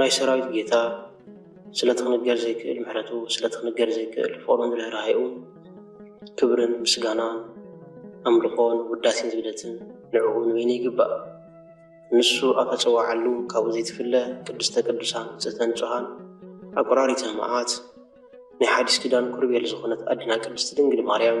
ናይ ሰራዊት ጌታ ስለቲ ክንገር ዘይክእል ምሕረቱ ስለቲ ክንገር ዘይክእል ፍቅሩን ርህራሄኡን ክብርን ምስጋናን ኣምልኾን ውዳሴን ዝብለትን ንዕኡ ንበይኑ ይግባእ። ንሱ ኣብ ተጸዋዓሉ ካብኡ ዘይትፍለ ቅድስተ ቅዱሳን ንጽህተ ንጹሃን ኣቁራሪተ መዓት ናይ ሓዲስ ኪዳን ኩርቤል ዝኾነት ኣዴና ቅድስቲ ድንግል ማርያም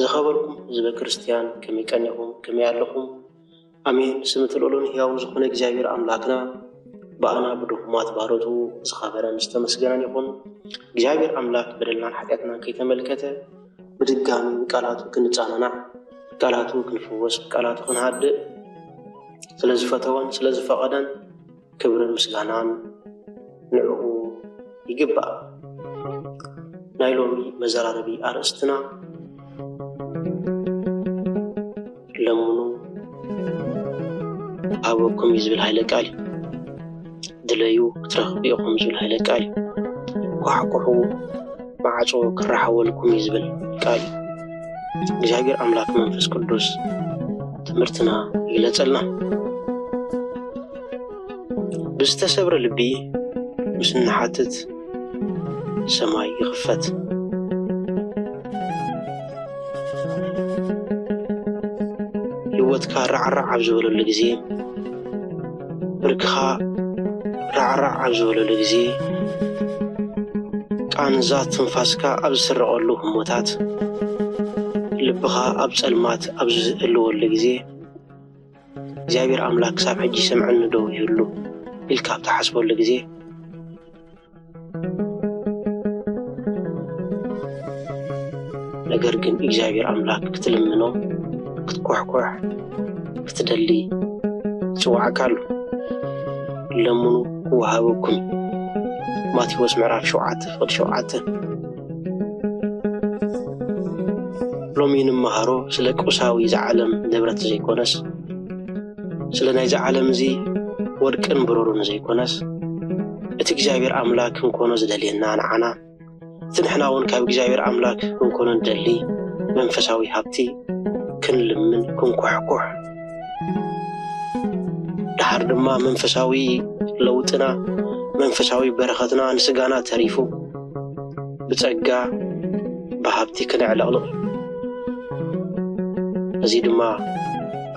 ዝኸበርኩም ህዝበ ክርስትያን ከመይ ቀኒኹም ከመይ ኣለኹም ኣሜን ስም እቲ ልዑልን ህያውን ዝኾነ እግዚኣብሔር ኣምላክና ብኣና ብድኹማት ባሮቱ ዝኸበረን ዝተመስገነን ይኹን እግዚኣብሔር ኣምላክ በደልናን ሓጢኣትናን ከይተመልከተ ብድጋሚ ብቃላቱ ክንጻናናዕ ብቃላቱ ክንፍወስ ብቃላቱ ክንሃድእ ስለ ዝፈተወን ስለ ዝፈቐደን ክብርን ምስጋናን ንዕኡ ይግባእ። ናይ ሎሚ መዘራረቢ ኣርእስትና ለምኑ ክሃበኩም እዩ ዝብል ሃይለ ቃል እዩ። ድለዩ ክትረኽቡ ኢኹም ዝብል ሃይለ ቃል እዩ። ኳሕኩሑ ማዕፆ ክረሓወልኩም እዩ ዝብል ቃል እዩ። እግዚኣብሔር ኣምላክ መንፈስ ቅዱስ ትምህርትና ይግለፀልና። ብዝተሰብረ ልቢ ምስ እንሓትት ሰማይ ይኽፈት። ህይወትካ ራዕራዕ ኣብ ዝበለሉ ግዜ፣ ብርክኻ ራዕራዕ ኣብ ዝበለሉ ግዜ፣ ቃንዛ ትንፋስካ ኣብ ዝስረቐሉ ህሞታት፣ ልብኻ ኣብ ጸልማት ኣብ ዝህልወሉ ግዜ፣ እግዚኣብሔር ኣምላክ ክሳብ ሕጂ ይሰምዐኒ ዶ ይህሉ ኢልካ ኣብ ትሓስበሉ ግዜ ነገር ግን እግዚኣብሔር ኣምላክ ክትልምኖ ክትኮሕኮሕ ክትደሊ ይፅዋዕካ ኣሎ ለምኑ ክወሃበኩም ማቴዎስ ምዕራፍ ሸውዓተ ፍቅዲ ሸውዓተ ሎሚ ንመሃሮ ስለ ቁሳዊ ዝዓለም ንብረት ዘይኮነስ ስለ ናይዚ ዓለም እዚ ወርቅን ብሩርን ዘይኮነስ እቲ እግዚኣብሔር ኣምላክ ክንኮኖ ዝደልየና ንዓና እቲ ንሕና እውን ካብ እግዚኣብሔር ኣምላክ ክንኮኖ ንደሊ መንፈሳዊ ሃብቲ ክንልምን ክንኩሕኩሕ ድሓር ድማ መንፈሳዊ ለውጥና መንፈሳዊ በረኸትና ንስጋና ተሪፉ ብጸጋ ብሃብቲ ክነዕለቕልቕ እዚ ድማ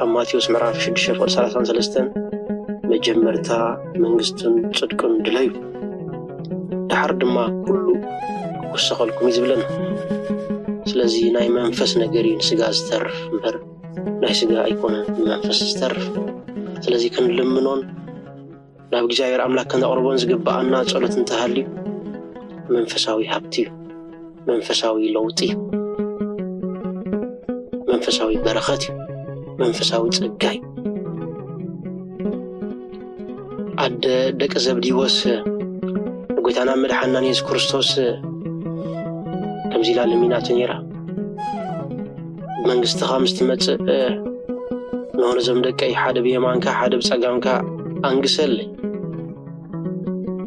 ኣብ ማቴዎስ ምዕራፍ 6 ፍቕሪ 33 መጀመርታ መንግስቱን ጽድቅን ድለዩ ድሓር ድማ ኩሉ ክውሰኸልኩም እዩ ዝብለና ስለዚ ናይ መንፈስ ነገር እዩ ንስጋ ዝተርፍ እምበር ናይ ስጋ ኣይኮነን ብመንፈስ ዝተርፍ ስለዚ ክንልምኖን ናብ እግዚኣብሔር ኣምላክ ከነቕርቦን ዝግብኣና ጸሎት እንተሃልዩ መንፈሳዊ ሃብቲ እዩ መንፈሳዊ ለውጢ እዩ መንፈሳዊ በረኸት እዩ መንፈሳዊ ጸጋ እዩ ኣደ ደቂ ዘብዲዎስ ንጐይታና መድሓናን የሱስ ክርስቶስ ከምዚ ኢላ ለሚናቶ ነይራ ብመንግስትኻ ምስ ትመጽእ ንሆ ነዞም ደቀይ ሓደ ብየማንካ ሓደ ብጸጋምካ ኣንግሰለይ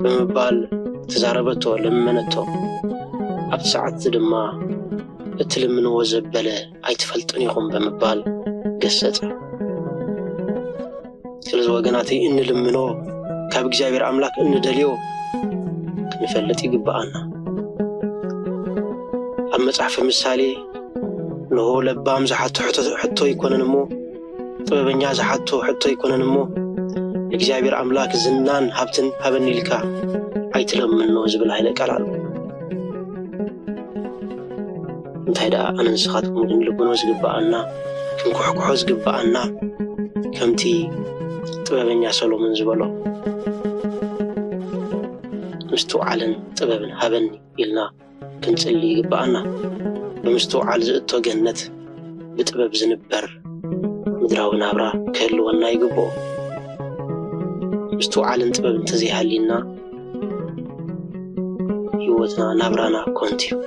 ብምባል ተዛረበቶ ለመነቶ ኣብቲ ሰዓት እዚ ድማ እትልምንዎ ዘበለ ኣይትፈልጡን ኢኹም ብምባል ገሰጸ ስለዚ ወገናተይ እንልምኖ ካብ እግዚኣብሔር ኣምላክ እንደልዮ ክንፈልጥ ይግብኣና። ኣብ መጽሓፍ ምሳሌ ንሆ ለባም ዝሓቶ ሕቶ ኣይኮነን እሞ ጥበበኛ ዝሓቶ ሕቶ ኣይኮነን እሞ እግዚኣብሔር ኣምላክ ዝናን ሃብትን ሃበኒ ኢልካ ኣይትለምኖ ዝብል ሃይለ ቃል ኣሎ። እንታይ ደኣ ኣነ ንስኻትኩም ክንልብኖ ዝግብኣና ክንኩሕኩሖ ዝግብኣና ከምቲ ጥበበኛ ሰሎሞን ዝበሎ ምስትውዓልን ጥበብን ሃበኒ ኢልና ክንጽሊ ይግብኣና ብምስትውዓል ዝእቶ ገነት ብጥበብ ዝንበር ምድራዊ ናብራ ክህልወና ይግብኦ ምስትውዓልን ጥበብ እንተዘይሃልዩና ህይወትና ናብራና ኮንት እዩ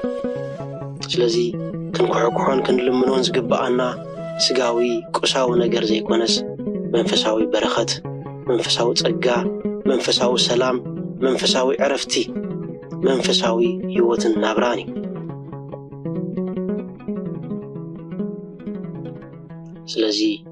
ስለዚ ክንኩሕኩሖን ክንልምኖን ዝግብኣና ስጋዊ ቁሳዊ ነገር ዘይኮነስ መንፈሳዊ በረኸት መንፈሳዊ ጸጋ መንፈሳዊ ሰላም መንፈሳዊ ዕረፍቲ መንፈሳዊ ህይወትን ናብራን እዩ ስለዚ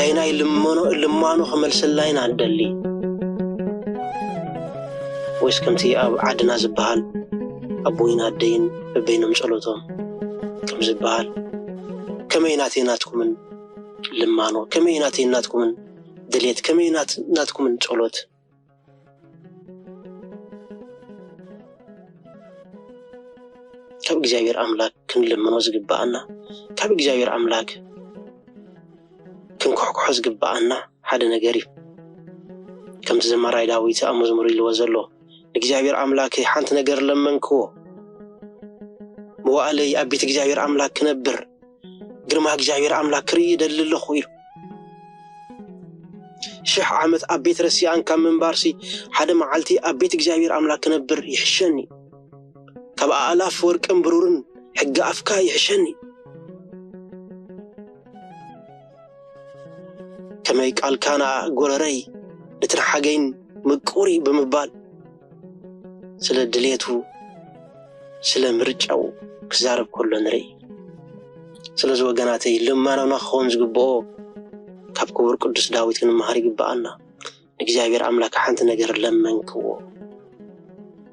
ኣይናይ ልመኖ ልማኖ ክመልሰላይ ኢና ንደሊ ወይስ ከምቲ ኣብ ዓድና ዝበሃል ኣቦይን ኣደይን በበይኖም ጸሎቶም ከም ዝበሃል ከመይ ናተይ ናትኩምን ልማኖ ከመይ ናተይ ናትኩምን ድሌት ከመይ ናትኩምን ጸሎት ካብ እግዚኣብሔር ኣምላክ ክንልምኖ ዝግብኣና ካብ እግዚኣብሔር ኣምላክ ክንኩሕኩሖ ዝግብኣና ሓደ ነገር እዩ ከምቲ ዘማራይ ዳዊት ኣብ መዝሙር ኢልዎ ዘሎ ንእግዚኣብሔር ኣምላከይ ሓንቲ ነገር ለመንክዎ መዋእለይ ኣብ ቤት እግዚኣብሔር ኣምላክ ክነብር ግርማ እግዚኣብሔር ኣምላክ ክርኢ ይደሊ ኣለኹ ኢሉ። ሽሕ ዓመት ኣብ ቤት ረሲኣን ካብ ምንባርሲ ሓደ መዓልቲ ኣብ ቤት እግዚኣብሔር ኣምላክ ክነብር ይሕሸኒ፣ ካብ ኣእላፍ ወርቅን ብሩርን ሕጊ ኣፍካ ይሕሸኒ። ከመይ ቃልካ ንኣ ጎረረይ ንትንሓገይን ምቁር እዩ ብምባል ስለ ድሌቱ ስለ ምርጫኡ ክዛረብ ከሎ ንርኢ ስለዚ ወገናተይ ልማኖና ክኸውን ዝግብኦ ካብ ክቡር ቅዱስ ዳዊት ክንመሃር ይግብኣና እግዚኣብሔር ኣምላክ ሓንቲ ነገር ለመንክዎ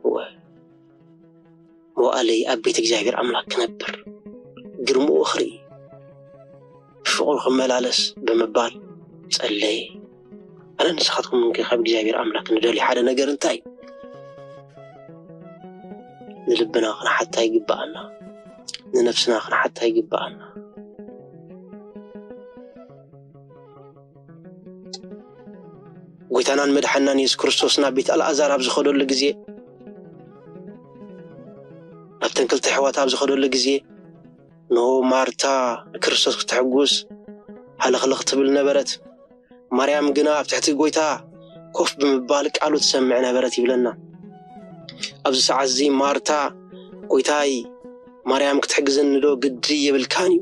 እወ መዋእለይ ኣብ ቤት እግዚኣብሔር ኣምላክ ክነብር ግርምኡ ክርኢ ብፍቅሩ ክመላለስ ብምባል ጸለየ። ኣነ ንስኻትኩም እንከ ካብ እግዚኣብሔር ኣምላክ ንደልዩ ሓደ ነገር እንታይ ንልብና ክንሓታ ይግብኣና፣ ንነፍስና ክንሓታ ይግብኣና። ጐይታናን መድሓኒናን የሱስ ክርስቶስ ናብ ቤት ኣልኣዛር ኣብ ዝኸደሉ ግዜ ናብተን ክልተ ኣሕዋት ኣብ ዝኸደሉ ግዜ እንሆ ማርታ ንክርስቶስ ክተሕጉስ ሃለኽለኽ ትብል ነበረት፣ ማርያም ግና ኣብ ትሕቲ ጐይታ ኮፍ ብምባል ቃሉ ትሰምዕ ነበረት ይብለና። ኣብዚ ሰዓት እዚ ማርታ ጐይታይ ማርያም ክትሕግዘኒ ዶ ግዲ የብልካን እዩ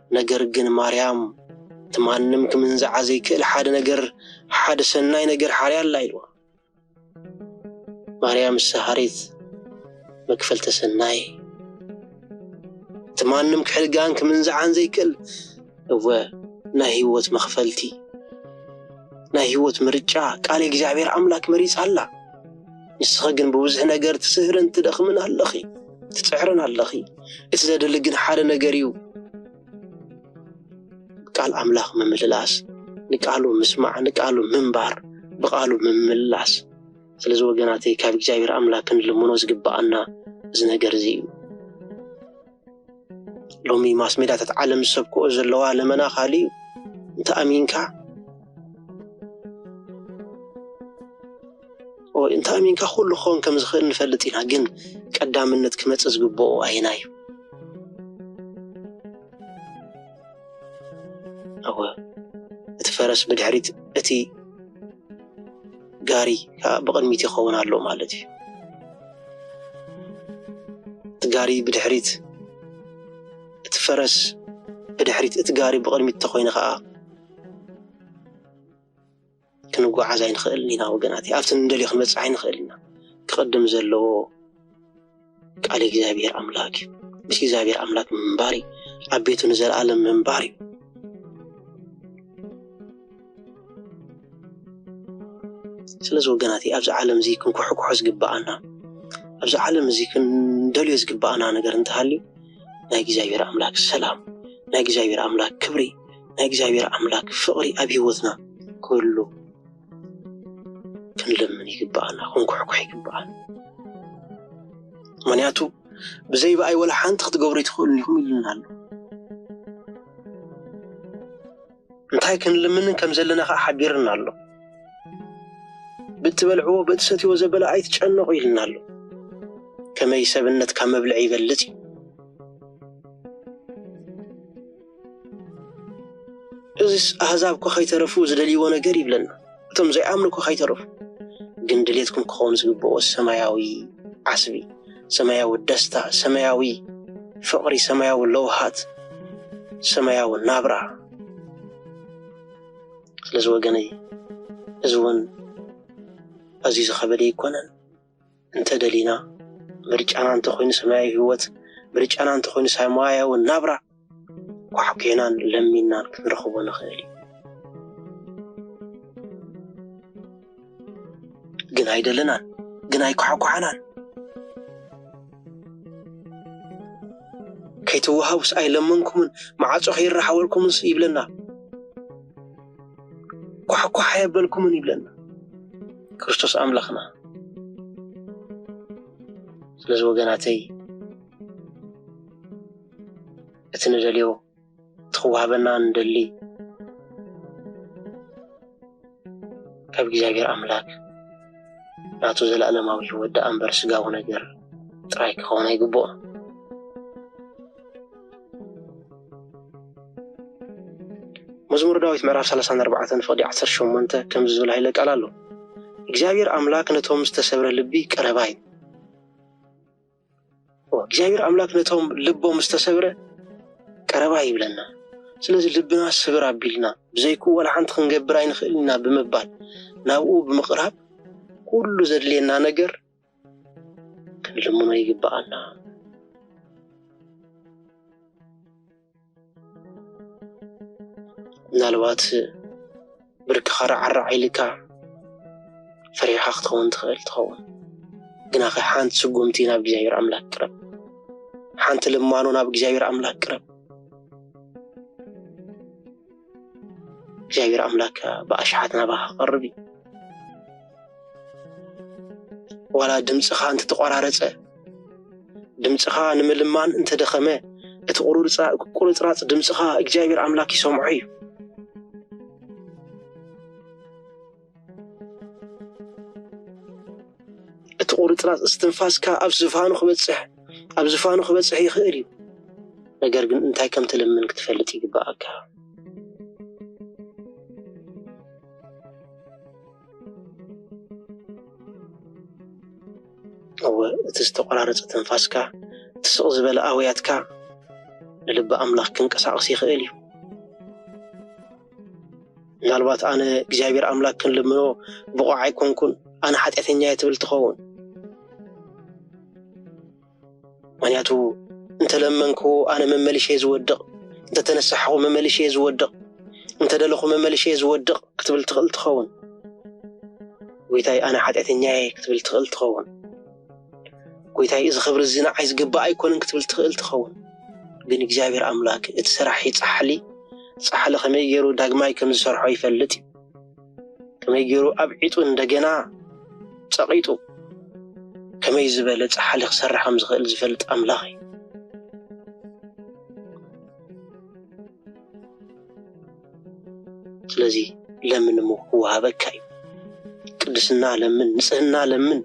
ነገር ግን ማርያም እቲ ማንም ክምንዝዓ ዘይክእል ሓደ ነገር ሓደ ሰናይ ነገር ሓርያ ኣላ ኢልዋ። ማርያም ሰሃሪት መክፈልተ ሰናይ እቲ ማንም ክሕድጋን ክምንዝዓን ዘይክእል እወ ናይ ህይወት መክፈልቲ ናይ ህይወት ምርጫ ቃል እግዚኣብሔር ኣምላክ መሪጻ ኣላ። ንስኺ ግን ብብዙሕ ነገር ትስህርን ትደኽምን ኣለኺ፣ ትጽዕርን ኣለኺ። እቲ ዘድሊ ግን ሓደ ነገር እዩ፣ ቃል ኣምላኽ ምምልላስ፣ ንቃሉ ምስማዕ፣ ንቃሉ ምንባር፣ ብቃሉ ምምልላስ። ስለዚ ወገናተይ ካብ እግዚኣብሔር ኣምላክ ክንልምኖ ዝግብኣና እዚ ነገር እዚ እዩ። ሎሚ ማስሜዳታት ዓለም ዝሰብክኦ ዘለዋ ለመና ካልእ እዩ። እንተ ኣሚንካ እንተ ኣሚንካ ኩሉ ክኸውን ከም ዝኽእል ንፈልጥ ኢና፣ ግን ቀዳምነት ክመጽእ ዝግብኦ ኣየናይ እዩ? እወ እቲ ፈረስ ብድሕሪት እቲ ጋሪ ከዓ ብቕድሚት ይኸውን ኣሎ ማለት እዩ። እቲ ጋሪ ብድሕሪት እቲ ፈረስ ብድሕሪት እቲ ጋሪ ብቕድሚት ተኾይኑ ከዓ ክንጎዓዝ ኣይንኽእልን ኢና ወገናት፣ ኣብቲ እንደልዮ ክንበፅሕ ኣይንኽእል ኢና። ክቕድም ዘለዎ ቃል እግዚኣብሔር ኣምላክ እዩ። ምስ እግዚኣብሔር ኣምላክ ምንባር እዩ። ኣብ ቤቱ ንዘለኣለም ምንባር እዩ። ስለዚ ወገናት ኣብዚ ዓለም እዚ ክንኩሕኩሖ ዝግባኣና ኣብዚ ዓለም እዚ ክንደልዮ ዝግባኣና ነገር እንተሃልዩ ናይ እግዚኣብሔር ኣምላክ ሰላም ናይ እግዚኣብሔር ኣምላክ ክብሪ ናይ እግዚኣብሔር ኣምላክ ፍቅሪ ኣብ ሂወትና ክህሉ ክንልምን ይግበኣና ክንኩሕኩሕ ይግበኣና ምክንያቱ ብዘይ ብኣይ ወላ ሓንቲ ክትገብሩ ይትኽእሉ ኢኹም ኢሉና ኣሎ እንታይ ክንልምንን ከም ዘለና ከዓ ሓቢርና ኣሎ ብትበልዕዎ ብእትሰትዎ ዘበለ ኣይትጨነቁ ኢልና ኣሎ ከመይ ሰብነት ካብ መብልዒ ይበልፅ እዩ እዚስ ኣህዛብ እኳ ኸይተረፉ ዝደልይዎ ነገር እዩ ይብለና። እቶም ዘይኣምኑ እኳ ኸይተረፉ ግን ድሌትኩም ክኸውን ዝግብኦ ሰማያዊ ዓስቢ፣ ሰማያዊ ደስታ፣ ሰማያዊ ፍቕሪ፣ ሰማያዊ ለውሃት፣ ሰማያዊ ናብራ። ስለዚ ወገነይ እዚ እውን ኣዝዩ ዝኸበደ ኣይኮነን። እንተደሊና ምርጫና እንተኾይኑ ሰማያዊ ህይወት ምርጫና እንተኾይኑ ሰማያዊ ናብራ ኳሕኬናን ለሚናን ክንረኽቦ ንኽእል እዩ ግን ኣይደለናን ግን ኣይኳሕኳሕናን ከይተዋሃቡስ ኣይለመንኩምን ማዓፆ ከይራሓወልኩምስ ይብለና ኳሕኳሕ ኣየበልኩምን ይብለና ክርስቶስ ኣምላኽና። ስለዚ ወገናተይ እቲ ንደልዮ እቲ ክዋህበና ንደሊ ካብ እግዚኣብሔር ኣምላክ ናቱ ዘለኣለማዊ ህይወት ደኣ እምበር ስጋዊ ነገር ጥራይ ክኸውን ኣይግብኦ። መዝሙር ዳዊት ምዕራፍ ሰላሳን ኣርባዕተን ፍቕዲ ዓሰርተ ሸሞንተ ከምዚ ዝብል ሃይለ ቃል ኣሎ እግዚኣብሔር ኣምላክ ነቶም ዝተሰብረ ልቢ ቀረባ እዩ እግዚኣብሔር ኣምላክ ነቶም ልቦም ዝተሰብረ ቀረባ ይብለና ስለዚ ልብና ስብር ኣቢልና ብዘይኩ ወላ ሓንቲ ክንገብር ኣይንኽእል ኢና ብምባል ናብኡ ብምቕራብ ኩሉ ዘድልየና ነገር ክንልምኖ ይግብኣና። ምናልባት ብርክኻ ራዕራዕ ኢልካ ፈሪሕኻ ክትኸውን ትኽእል ትኸውን ግናኸ ሓንቲ ስጉምቲ ናብ እግዚኣብሔር ኣምላክ ቅረብ ሓንቲ ልማኖ ናብ እግዚኣብሔር ኣምላክ ቅረብ እግዚኣብሔር ኣምላክ ከዓ ብኣሽሓት ናባካ ክቀርብ እዩ ዋላ ድምፅካ እንተተቆራረፀ ድምፅካ ንምልማን እንተደኸመ እቲ ቁርፅራፅ ድምፅካ እግዚኣብሔር ኣምላክ ይሰምዖ እዩ እቲ ቁርፅራፅ እስትንፋስካ ኣብ ዝፋኑ ክበፅሕ ኣብ ዝፋኑ ክበፅሕ ይኽእል እዩ። ነገር ግን እንታይ ከም ትልምን ክትፈልጥ ይግበኣካ። እወ እቲ ዝተቆራረፀ ትንፋስካ እቲ ስቕ ዝበለ ኣውያትካ ንልቢ ኣምላኽ ክንቀሳቐስ ይኽእል እዩ። ምናልባት ኣነ እግዚኣብሔር ኣምላክ ክንልምኖ ብቑዕ ኣይኮንኩን፣ ኣነ ሓጢኣተኛ እየ ትብል ትኸውን። ምክንያቱ እንተለመንኩ ኣነ መመሊሸ እየ ዝወድቕ፣ እንተተነሳሕኹ መመሊሸ እየ ዝወድቕ፣ እንተደለኹ መመሊሸ እየ ዝወድቕ ክትብል ትኽእል ትኸውን። ጎይታይ ኣነ ሓጢኣተኛ እየ ክትብል ትኽእል ትኸውን። ጎይታይ እዚ ክብሪ እዚ ንዓይ ዝግባእ ኣይኮነን ክትብል ትኽእል ትኸውን ግን እግዚኣብሔር ኣምላክ እቲ ሰራሒ ፃሕሊ ፃሕሊ ከመይ ገይሩ ዳግማይ ከም ዝሰርሖ ይፈልጥ እዩ ከመይ ገይሩ ኣብዒጡ እንደገና ፀቂጡ ከመይ ዝበለ ፃሕሊ ክሰርሕ ከም ዝኽእል ዝፈልጥ ኣምላኽ እዩ ስለዚ ለምን እሞ ክወሃበካ እዩ። ቅድስና ለምን፣ ንጽህና ለምን፣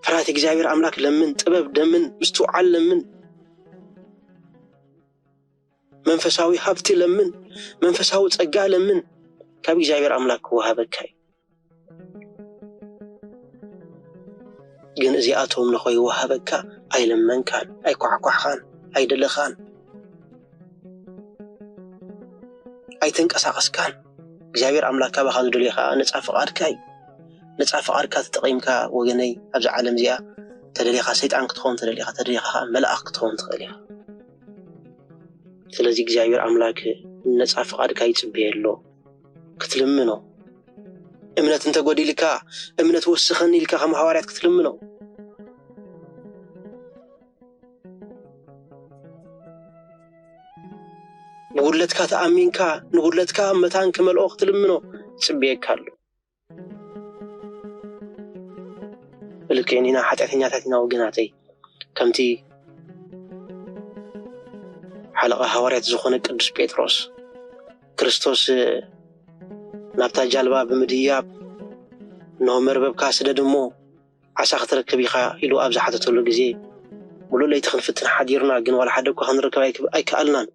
ፍርሃት እግዚኣብሔር ኣምላክ ለምን፣ ጥበብ ለምን፣ ምስትውዓል ለምን፣ መንፈሳዊ ሃብቲ ለምን፣ መንፈሳዊ ጸጋ ለምን፣ ካብ እግዚኣብሔር ኣምላክ ክወሃበካ እዩ። ግን እዚኣቶም ንኸይወሃበካ ኣይለመንካን፣ ኣይኳሕኳሕኻን፣ ኣይደለኻን፣ ኣይተንቀሳቐስካን። እግዚኣብሔር ኣምላክ ካባኻ ዝደልዮ ኸኣ ነጻ ፍቓድካ እዩ። ነጻ ፍቓድካ ተጠቒምካ ወገነይ ኣብዛ ዓለም እዚኣ ተደሊኻ ሰይጣን ክትኸውን ተደሊኻ ተደሊኻ ኸኣ መልኣኽ ክትኸውን ትኽእል ኢኻ። ስለዚ እግዚኣብሔር ኣምላክ ነጻ ፍቓድካ ይጽበዮ ኣሎ። ክትልምኖ እምነት እንተጎዲልካ እምነት ወስኸኒ ኢልካ ከም ሃዋርያት ክትልምኖ ንጉድለትካ ተኣሚንካ ንጉድለትካ መታን ክመልኦ ክትልምኖ ጽብየካ ኣሎ ብልክዕን ኢና ሓጢኣተኛታት ኢና ወገናተይ ከምቲ ሓለቓ ሃዋርያት ዝኾነ ቅዱስ ጴጥሮስ ክርስቶስ ናብታ ጃልባ ብምድያብ እነሆ መርበብካ ስደድ እሞ ዓሳ ክትረክብ ኢኻ ኢሉ ኣብ ዝሓተተሉ ግዜ፣ ምሉእ ለይቲ ክንፍትን ሓዲርና፣ ግን ዋላ ሓደ እኳ ክንረክብ ኣይከኣልናን፣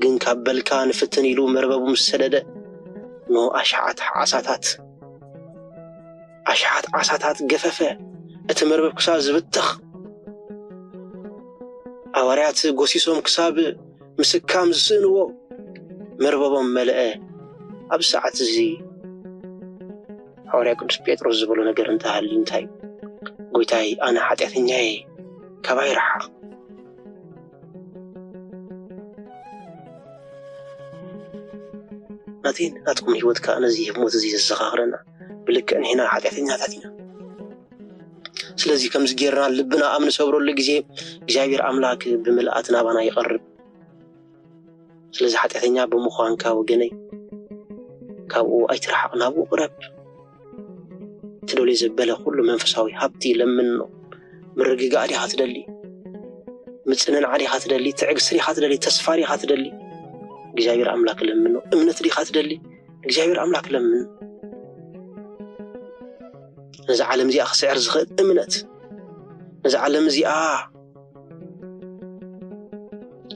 ግን ካብ በልካ ንፍትን ኢሉ መርበቡ ምስ ሰደደ፣ እንሆ ኣሽሓት ዓሳታት ኣሽሓት ዓሳታት ገፈፈ፣ እቲ መርበብ ክሳብ ዝብተኽ፣ ሃዋርያት ጎሲሶም ክሳብ ምስካም ዝስእንዎ መርበቦም መልአ፣ ኣብዚ ሰዓት እዚ። ሓዋርያ ቅዱስ ጴጥሮስ ዝበሎ ነገር እንተሃልዩ እንታይ እዩ? ጎይታይ ኣነ ሓጢኣተኛ እየ ካባይ ረሓቕ። ናተይን ናትኩም ህይወት ከዓ ነዚ ህሞት እዚ ዘዘኻኽረና ብልክዕ ንሕና ሓጢኣተኛታት ኢና። ስለዚ ከምዚ ጌርና ልብና ኣብ ንሰብረሉ ግዜ እግዚኣብሔር ኣምላክ ብምልኣት ናባና ይቐርብ። ስለዚ ሓጢኣተኛ ብምዃንካ ወገነይ ካብኡ ኣይትርሓቕ፣ ናብኡ ቅረብ። ትደልዮ ዘበለ ኩሉ መንፈሳዊ ሃብቲ ለምኖ። ምርግጋእ ዲኻ ትደሊ? ምጽንናዕ ዲኻ ትደሊ? ትዕግስቲ ዲኻ ትደሊ? ተስፋ ዲኻ ትደሊ? እግዚኣብሔር ኣምላክ ለምኖ። እምነት ዲኻ ትደሊ? እግዚኣብሔር ኣምላክ ለምኖ። ነዚ ዓለም እዚኣ ክስዕር ዝኽእል እምነት ነዚ ዓለም እዚኣ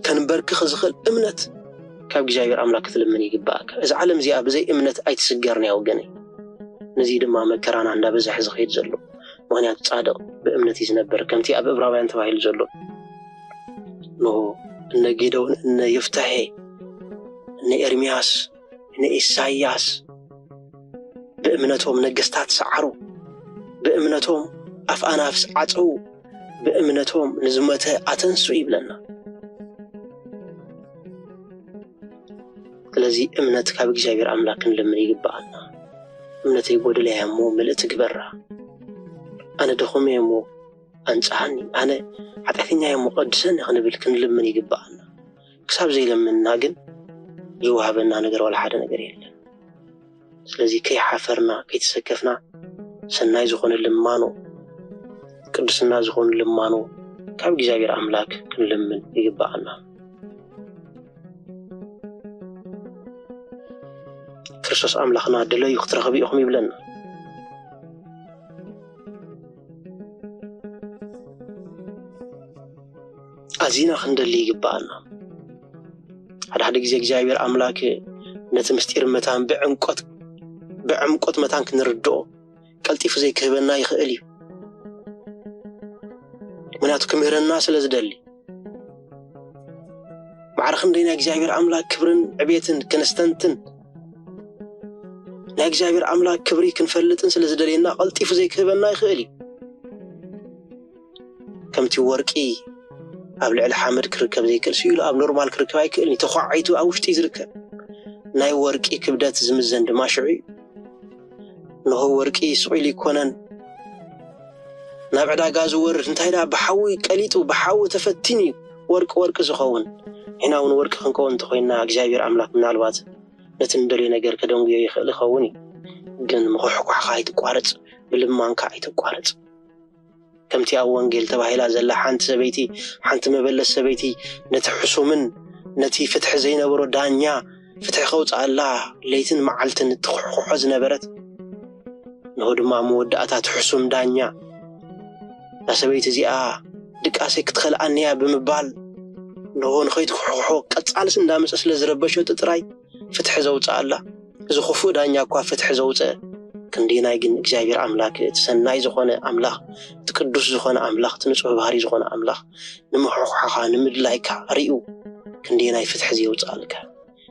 ከንበርክኽ ዝኽእል እምነት ካብ እግዚኣብሔር ኣምላክ ክትልምን ይግበኣካ። እዛ ዓለም እዚኣ ብዘይ እምነት ኣይትስገርን እያ ወገነይ። ነዚ ድማ መከራና እንዳበዘሐ ዝኸይድ ዘሎ ምክንያቱ ጻድቕ ብእምነት እዩ ዝነበር ከምቲ ኣብ እብራውያን ተባሂሉ ዘሎ ኖ እነ ጌደውን እነ ይፍታሔ እነ ኤርምያስ ንኢሳይያስ ብእምነቶም ነገስታት ሰዓሩ፣ ብእምነቶም ኣፍ ኣናፍስ ዓጸዉ፣ ብእምነቶም ንዝሞተ ኣተንሱ ይብለና። ስለዚ እምነት ካብ እግዚኣብሔር ኣምላክ ክንልምን ይግብኣና። እምነተይ ጎደለ እያ እሞ ምልእቲ ግበራ፣ ኣነ ድኹም እየ እሞ ኣንጽሃኒ፣ ኣነ ሓጢኣተኛ እየ እሞ ቀድሰኒ ክንብል ክንልምን ይግብኣና። ክሳብ ዘይለምንና ግን ዝወሃበና ነገር ዋላ ሓደ ነገር የለን። ስለዚ ከይሓፈርና ከይተሰከፍና ሰናይ ዝኾነ ልማኖ ቅድስና ዝኾኑ ልማኖ ካብ እግዚኣብሔር ኣምላክ ክንልምን ይግባኣና። ክርስቶስ ኣምላኽና ድለዩ ክትረኽቡ ኢኹም ይብለና። ኣዚና ክንደሊ ይግብኣና። ሓደ ሓደ ግዜ እግዚኣብሔር ኣምላክ ነቲ ምስጢር መታን ብዕምቆት ብዕምቆት መታን ክንርድኦ ቀልጢፉ ዘይክህበና ይኽእል እዩ። ምክንያቱ ክምህረና ስለ ዝደሊ ማዕረ ክንደይ ናይ እግዚኣብሔር ኣምላክ ክብርን ዕቤትን ክነስተንትን ናይ እግዚኣብሔር ኣምላክ ክብሪ ክንፈልጥን ስለ ዝደልየና ቀልጢፉ ዘይክህበና ይኽእል እዩ። ከምቲ ወርቂ ኣብ ልዕሊ ሓመድ ክርከብ ዘይክእል ስኢሉ ኣብ ኖርማል ክርከብ ኣይክእልን እዩ ተኳዒቱ ኣብ ውሽጢ ዝርከብ ናይ ወርቂ ክብደት ዝምዘን ድማ ሽዑ እዩ ንሆ ወርቂ ስቂሉ ይኮነን ናብ ዕዳጋ ዝወርድ እንታይ ደኣ ብሓዊ ቀሊጡ ብሓዊ ተፈቲኑ እዩ ወርቂ ወርቂ ዝኸውን ንሕና እውን ወርቂ ክንከውን እንተኮይንና እግዚኣብሔር ኣምላክ ምናልባት ነቲ ንደልዮ ነገር ከደንጉዮ ይኽእል ይኸውን እዩ ግን ምኩሕኳሕካ ኣይትቋረፅ ብልማንካ ኣይትቋረፅ ከምቲ ኣብ ወንጌል ተባሂላ ዘላ ሓንቲ ሰበይቲ፣ ሓንቲ መበለት ሰበይቲ ነቲ ሕሱምን ነቲ ፍትሒ ዘይነበሮ ዳኛ ፍትሒ ከውጽኣላ ለይትን መዓልትን እትኹሕኩሖ ዝነበረት፣ እንሆ ድማ ኣብ መወዳእታ እቲ ሕሱም ዳኛ እዛ ሰበይቲ እዚኣ ድቃሰይ ክትኸልኣኒ እያ ብምባል እንሆ ንኸይትኹሕኩሖ ቀጻልስ እንዳመጸ ስለ ዝረበሸቶ ጥራይ ፍትሒ ዘውጽኣላ፣ እዚ ኽፉእ ዳኛ እኳ ፍትሒ ዘውጽአ፣ ክንደየናይ ግን እግዚኣብሔር ኣምላክ እቲ ሰናይ ዝኾነ ኣምላኽ፣ እቲ ቅዱስ ዝኾነ ኣምላኽ፣ እቲ ንጹሕ ባህርይ ዝኾነ ኣምላኽ ንምሕኩሓኻ፣ ንምድላይካ ሪኡ ክንደየናይ ፍትሒ ዘየውጽኣልካ።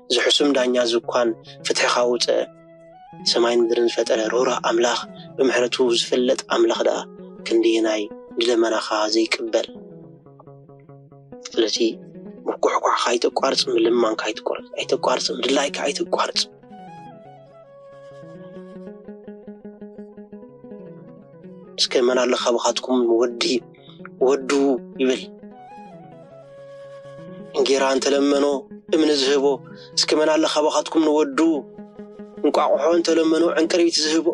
እዚ ሕሱም ዳኛ እዚ እኳን ፍትሒ ካውጽአ፣ ሰማይን ምድርን ዝፈጠረ ርህሩህ ኣምላኽ፣ ብምሕረቱ ዝፍለጥ ኣምላኽ ደኣ ክንደየናይ ንልመናኻ ዘይቅበል። ስለዚ ምጉሕጓሕካ ኣይተቋርፅ ምልማንካ ኣይትቋርፅ ኣይተቋርፅ ምድላይካ ኣይተቋርፅ እስከ መን ኣሎ ካብኻትኩም ወዲ ወዱ ይብል እንጌራ እንተለመኖ እምኒ ዝህቦ እስከ መን ኣሎ ካብኻትኩም ንወዱ እንቋቑሖ እንተለመኖ ዕንቅሪቢት ዝህቦ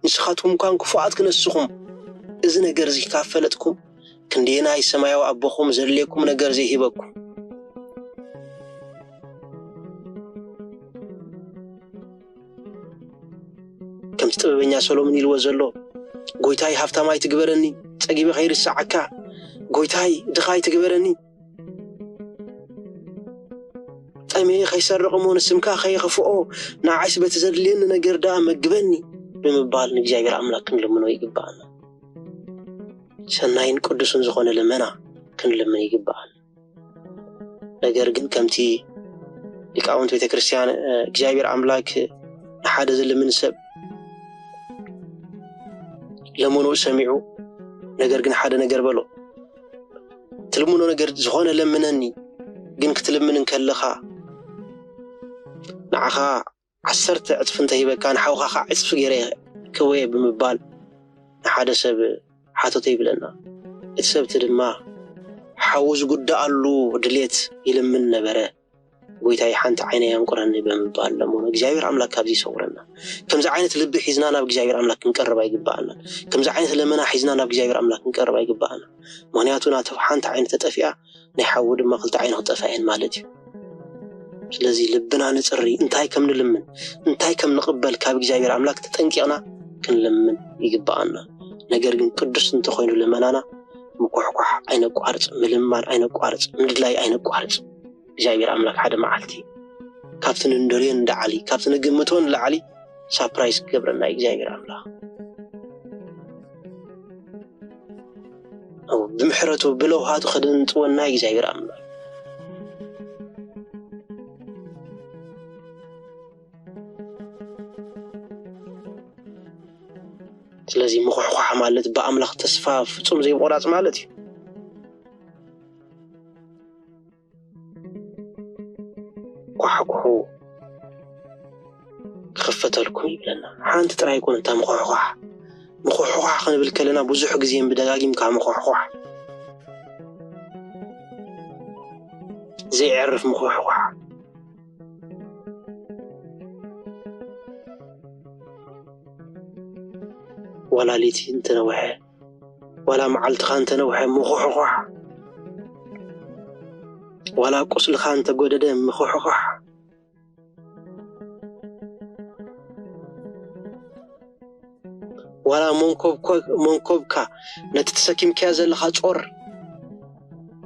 ንስኻትኩም እኳ ክፉኣት ክነስኹም፣ እዚ ነገር እዚ ካብ ፈለጥኩም፣ ክንደየናይ ሰማያዊ ኣቦኹም ዘድልየኩም ነገር ዘይህበኩም። ከምቲ ጥበበኛ ሰሎምን ኢልዎ ዘሎ፣ ጎይታይ ሃብታም ኣይትግበረኒ፣ ጸጊበ ከይርሰዓካ፣ ጎይታይ ድኻ ኣይትግበረኒ። ጠምየ ኸይሰርቕ እሞ ንስምካ ኸየኽፍኦ ንዓይስ በቲ ዘድልየኒ ነገር ደኣ መግበኒ ብምባል ንእግዚኣብሔር ኣምላክ ክንልምኖ ይግብኣና። ሰናይን ቅዱስን ዝኾነ ልመና ክንልምን ይግብኣና። ነገር ግን ከምቲ ሊቃውንት ቤተ ክርስቲያን እግዚኣብሔር ኣምላክ ንሓደ ዝልምን ሰብ ለመኑ ሰሚዑ፣ ነገር ግን ሓደ ነገር በሎ ትልምኖ ነገር ዝኾነ ለምነኒ ግን ክትልምን እንከለኻ ንዓኻ ዓሰርተ ዕፅፊ እንተሂበካ ንሓውካ ከዓ ዕፅፊ ገይረ ክህቦየ ብምባል ንሓደ ሰብ ሓተቶ ይብለና እቲ ሰብቲ ድማ ሓዉ ዝጉዳኣሉ ድሌት ይልምን ነበረ ጎይታይ ሓንቲ ዓይነይ ኣንቁረኒ ብምባል ለመኑ። እግዚኣብሔር ኣምላክ ካብዚ ይሰውረና። ከምዚ ዓይነት ልቢ ሒዝና ናብ እግዚኣብሔር ኣምላክ ክንቀርብ ኣይግባኣናን። ከምዚ ዓይነት ለመና ሒዝና ናብ እግዚኣብሔር ኣምላክ ክንቀርብ ኣይግባኣናን። ምክንያቱ ናቱ ሓንቲ ዓይኑ ተጠፊኣ ናይ ሓዉ ድማ ክልተ ዓይኑ ክጠፍኣ እየን ማለት እዩ። ስለዚ ልብና ንጽሪ፣ እንታይ ከም ንልምን እንታይ ከም ንቅበል ካብ እግዚኣብሔር ኣምላክ ተጠንቂቅና ክንለምን ይግባኣና። ነገር ግን ቅዱስ እንተኮይኑ ለመናና ምኩሕኳሕ ኣይነቋርጽ፣ ምልማን ኣይነቋርጽ፣ ምድላይ ኣይነቋርጽ። እግዚኣብሔር ኣምላክ ሓደ መዓልቲ ካብቲ ንደልዮ ንላዕሊ ካብቲ ንግምቶ ንላዕሊ ሳፕራይዝ ክገብረና እዩ እግዚኣብሔር ኣምላክ ብምሕረቱ ብለውሃቱ ከደንጥወና እዩ እግዚኣብሔር ኣምላክ ስለዚ ምኹሕኳሕ ማለት ብኣምላኽ ተስፋ ፍጹም ዘይምቑራጽ ማለት እዩ። ኳሕኩሑ ክኽፈተልኩም ይብለና። ሓንቲ ጥራይ ኣይኮነ እታ ምኹሕኳሕ ምኹሕኳሕ ክንብል ከለና ብዙሕ ግዜ ብደጋጊምካ ምኹሕኳሕ ዘይዕርፍ ምኹሕኳሕ ዋላ ለይቲ እንተነውሐ ዋላ መዓልትኻ እንተነውሐ ምኹሕኳሕ ዋላ ቁስልኻ እንተጎደደ ምኹሕኳሕ ዋላ መንኮብካ ነቲ ተሰኪምካዮ ዘለኻ ጾር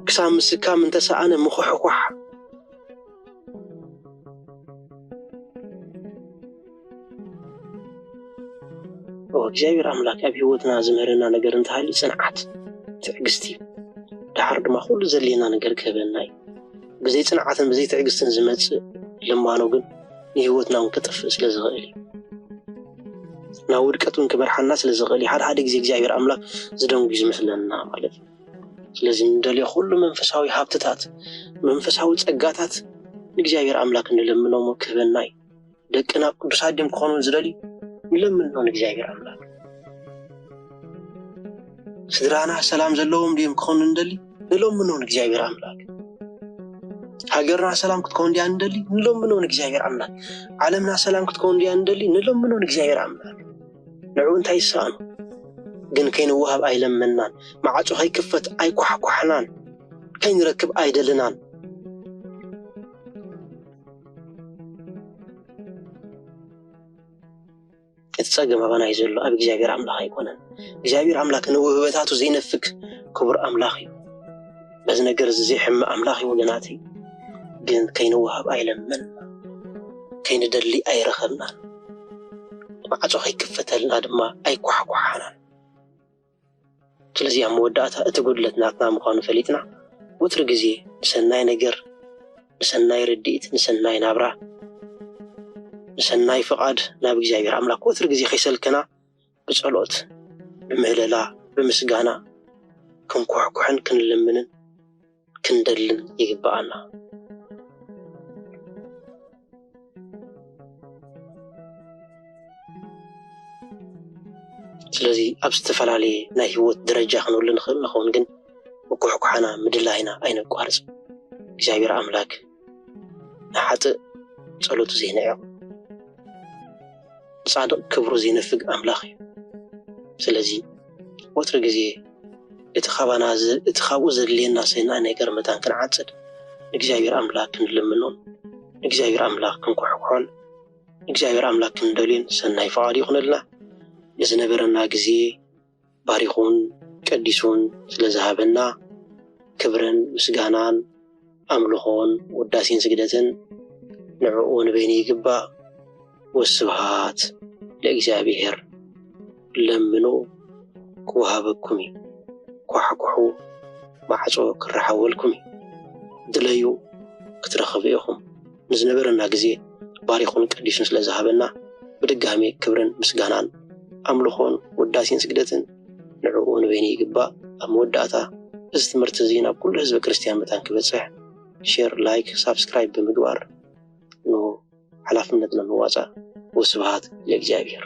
ክሳብ ምስካም እንተሰኣነ ምኹሕኳሕ እግዚኣብሔር ኣምላክ ኣብ ሂወትና ዝምህረና ነገር እንተሃልዩ ፅንዓት ትዕግስቲ እዩ ደሓር ድማ ኩሉ ዘድልየና ነገር ክህበና እዩ ብዘይ ፅንዓትን ብዘይ ትዕግስትን ዝመፅእ ልማኖ ግን ንሂወትና እውን ከጥፍእ ስለ ዝኽእል እዩ ናብ ውድቀት እውን ክመርሓና ስለ ዝኽእል እዩ ሓደ ሓደ ግዜ እግዚኣብሔር ኣምላክ ዝደንጉዩ ዝመስለና ማለት እዩ ስለዚ እንደልዮ ኩሉ መንፈሳዊ ሃብትታት መንፈሳዊ ጸጋታት ንእግዚኣብሔር ኣምላክ ንለምኖሞ ክህበና እዩ። ደቅና ቅዱሳት ድም ክኾኑ ዝደልዩ ንለምኖ ንእግዚኣብሔር ኣምላክ። ስድራና ሰላም ዘለዎም ድዮም ክኾኑ ንደሊ ንለምኖ ንእግዚኣብሔር ኣምላክ። ሃገርና ሰላም ክትከውን ድያ ንደሊ ንለምኖ ንእግዚኣብሔር ኣምላክ። ዓለምና ሰላም ክትከውን ድያ ንደሊ ንለምኖ ንእግዚኣብሔር ኣምላክ። ንዑ እንታይ ይሰኣኖ? ግን ከይንወሃብ ኣይለመንናን፣ መዓጹ ከይክፈት ኣይኳሕኳሕናን፣ ከይንረክብ ኣይደልናን። እቲ ጸገም ኣባና እዩ ዘሎ፣ ኣብ እግዚኣብሔር ኣምላኽ ኣይኮነን። እግዚኣብሔር ኣምላክ ንውህበታቱ ዘይነፍግ ክቡር ኣምላኽ እዩ። በዚ ነገር እዚ ዘይሕመ ኣምላኽ እዩ ወገናተይ። ግን ከይንወሃብ ኣይለመን ከይንደሊ ኣይረኸብናን ማዕጾ ከይክፈተልና ድማ ኣይኳሕኳሓናን። ስለዚ ኣብ መወዳእታ እቲ ጉድለት ናትና ምዃኑ ፈሊጥና ወትሪ ግዜ ንሰናይ ነገር፣ ንሰናይ ርድኢት፣ ንሰናይ ናብራ፣ ንሰናይ ፍቓድ ናብ እግዚኣብሔር ኣምላክ ወትሪ ግዜ ከይሰልከና ብጸሎት፣ ብምህለላ፣ ብምስጋና ክንኩሕኩሕን ክንልምንን ክንደልን ይግብኣና። ስለዚ ኣብ ዝተፈላለየ ናይ ህይወት ደረጃ ክንህሉ ንኽእል ንኸውን፣ ግን ምኩሕኳሕና ምድላይና ኣይነቋርጽ። እግዚኣብሔር ኣምላክ ንሓጥእ ጸሎቱ ዘይንዕቕ ንጻድቕ ክብሩ ዘይነፍግ ኣምላኽ እዩ። ስለዚ ወትሩ ግዜ እቲ ካባና እቲ ካብኡ ዘድልየና ሰናይ ነገር መታን ክንዓጽድ ንእግዚኣብሔር ኣምላክ ክንልምኖን ንእግዚኣብሔር ኣምላክ ክንኩሕኩሖን ንእግዚኣብሔር ኣምላክ ክንደልዮን ሰናይ ፍቓዱ ይኹነልና። ንዝነበረና ግዜ ባሪኹን ቀዲሱን ስለ ዝሃበና ክብርን ምስጋናን ኣምልኾን ውዳሴን ስግደትን ንዕኡ ንበይኑ ይግባእ። ወስብሃት ለእግዚኣብሔር። ለምኑ ክወሃበኩም እዩ፣ ኳሕኩሑ ማዕጾ ክረሓወልኩም እዩ፣ ድለዩ ክትረኽቡ ኢኹም። ንዝነበረና ግዜ ባሪኹን ቀዲሱን ስለ ዝሃበና ብድጋሜ ክብርን ምስጋናን ኣምልኾን ውዳሴን ስግደትን ንዕኡ ንበይኑ ይግባእ። ኣብ መወዳእታ እዚ ትምህርቲ እዚ ናብ ኩሉ ህዝበ ክርስትያን መታን ክበጽሕ ሼር ላይክ ሳብስክራይብ ብምግባር ን ሓላፍነትና ንዋጻእ። ወስብሃት ለእግዚኣብሔር።